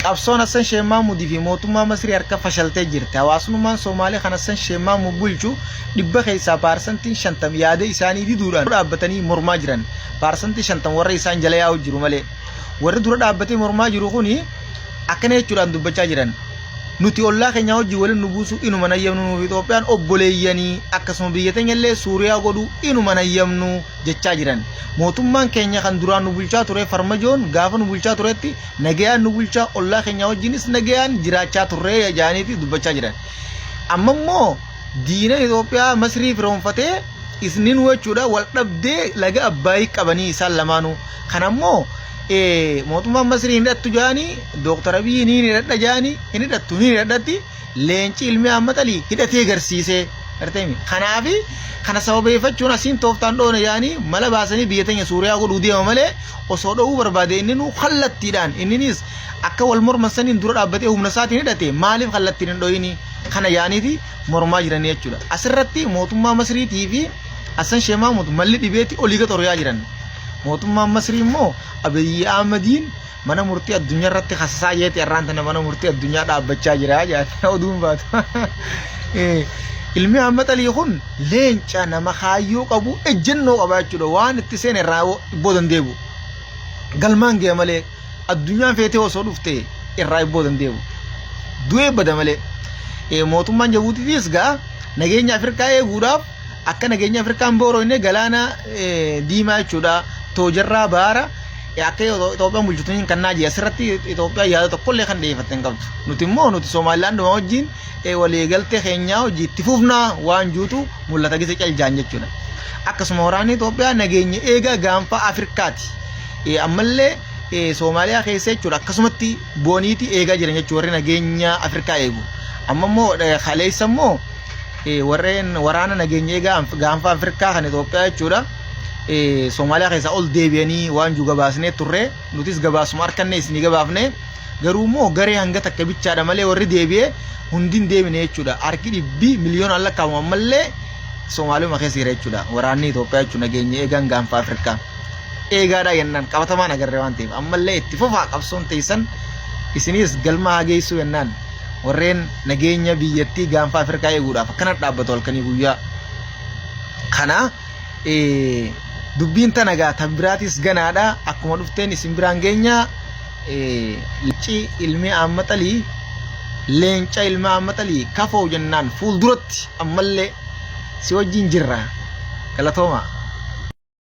Qabsoon Hassan Sheikh Mahmud fi mootummaa Masrii harka fashaltee jirti. Hawaasnummaan Soomaalee kan Hassan Sheikh Mahmud bulchu dhibba keessaa paarsantiin shantam yaada isaanii diduudhaan dura dhaabbatanii mormaa jiran. Paarsantii shantam warra isaan jala yaa'u jiru malee. Warri dura dhaabbatee mormaa jiru kuni akkana jechuudhaan dubbachaa jiran. Nuti ollaa keenya wajjin waliin nu buusu inuma nayyamnu nuuf Itoophiyaan obboleeyyanii akkasuma biyya teenya illee Suuriyaa godhu inuma nayyamnu. jechaa jiran. Mootummaan keenya kan duraan nu bulchaa ture farmajoon gaafa nu bulchaa turetti nagayaan nu bulchaa ollaa keenyaa wajjinis nagayaan jiraachaa turree jedhaniiti dubbachaa jiran. Amma immoo diina Itoophiyaa Masrii firoonfatee isnin jechuudha wal dhabdee laga Abbaayii qabanii isaan lamaanuu. Kana immoo mootummaan Masrii hin hidhattu jedhanii Dooktar Abiyyiin hin hidhadha jedhanii hin hidhattu hin hidhadhatti leenci ilmi ammaxalii hidhatee garsiisee artemi kanaafi kana sababeeffachuun asiin tooftaan dhoona yaanii mala baasanii biyya teenya suuriyaa godhuu deema malee osoo dho'uu barbaade inni nuu kallattiidhaan inninis akka wal morman saniin dura dhaabbatee humna isaatiin hidhate maaliif kallattiin hin dho'ini kana yaaniiti mormaa jiranii jechuudha asirratti mootummaa masriitii fi Hassan Sheikh Mahmud malli dhibeetti olii gaxoriyaa jiran mootummaan masrii immoo Abiyyi Ahmadiin mana murtii addunyaa irratti kasasaa jeeti irraan tana mana murtii addunyaa dhaabbachaa jira jaata oduun baatu. Ilmi amma xalii kun leenca nama kaayyoo qabu ejjennoo qabaa jechuudha waan itti seene irraa ibboo dandeebu. Galmaan ga'e malee addunyaan feetee osoo dhufte irraa ibboo dandeebu. Du'ee bada malee mootummaan Jabuutiitis gaa nageenya Afrikaa eeguudhaaf Akka nageenya Afrikaan booroo inni galaana diimaa jechuudha. Toojarraa baara akka Itoophiyaan bulchitu hin kannaa jira. Asirratti Itoophiyaan yaada tokkollee kan dhiyeeffatte hin qabdu. Nuti immoo nuti Somaalilaanduma wajjin waliigaltee keenyaa hojii itti fufnaa waan juutu mul'ata gisa caljaan jechuudha. Akkasuma waraanni Itoophiyaa nageenya eegaa gaanfaa Afrikaati. Ammallee Soomaaliyaa keessa jechuudha akkasumatti booniiti eegaa jiran jechuudha warri nageenya Afrikaa eegu. Amma immoo kaleessa immoo warreen waraana nageenya eegaa gaanfa Afrikaa kan Itoophiyaa jechuudha. Somaaliyaa keessaa ol deebi'anii waan jiru gabaasnee turre nutis gabaasuma harkannee isinii gabaafne garuu immoo garee hanga takka bichaadha malee warri deebi'ee hundi hin deebine jechuudha. Harki dhibbi miliyoonaan lakkaa'amu ammallee Somaaliyaa keessa jira jechuudha. Waraanni Itoophiyaa jechuun nageenya eegaan gaanfa Afrikaa. Eegaadhaa jennaan qabatamaan agarre waan ta'eef ammallee itti fufaa qabsoon teessan isiniis galma haa geessuu jennaan. warreen nageenya biyyattii gaanfa Afrikaa eeguudhaaf akkana dhaabbatu halkanii guyyaa. Kana dubbiin tana gaa tan biraatis ganaadha akkuma dhufteen isin biraan geenya leenci ilmi aammaxalii leenca ilma aammaxalii kafoo jennaan fuulduratti ammallee si wajjin jirra galatoomaa.